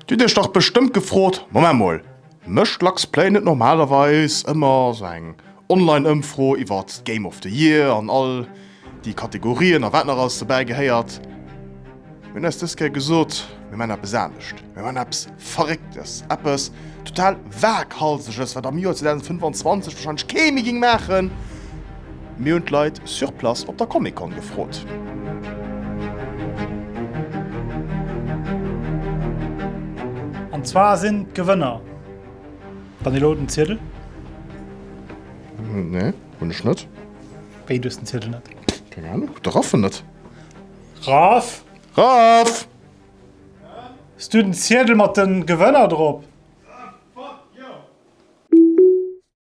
Du dech dach bestëmmt gefrot, Moment mol, mécht Lux Play net normalerweis ëmmer sou eng Online-Ëmfro iwwer d'Game of the Year an all déi Kategorien a wat nach alles dobäi gehéiert? Mir hunn eis dës Kéier gesot, mir maachen eppes anescht, mir maachen eppes Verrécktes, eppes total Waaghalseges, wat am Joer 2025 warscheinlech kee méi géing maachen. Mir hunn d'Leit sur place op der Comic-Con gefrot. An zwar sinn d'Gewënner, wann elo den Ziedel. Nee, hunn ech net. Wéi, du hues den Ziedel net? Keng Ahnung, de Raff en net. Raff! Raff! Hues du den Ziedel mat den Gewënner drop?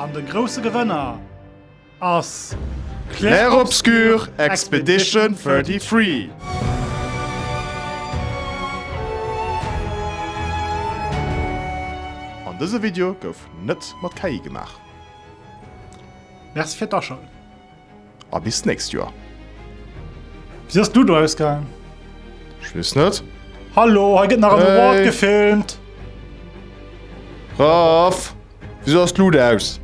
An de grousse Gewënner ass Clair Obscur Expedition 33! An dëse Video gouf net mat KI gemaach. Merci fir d'Aschalten. a bis d'nächst Joer. Wéi ass d'Ludo ausgaangen? Ech weess net. Hallo, hei gëtt nach en Award gefilmt! Raff, wisou ass d'Luut aus?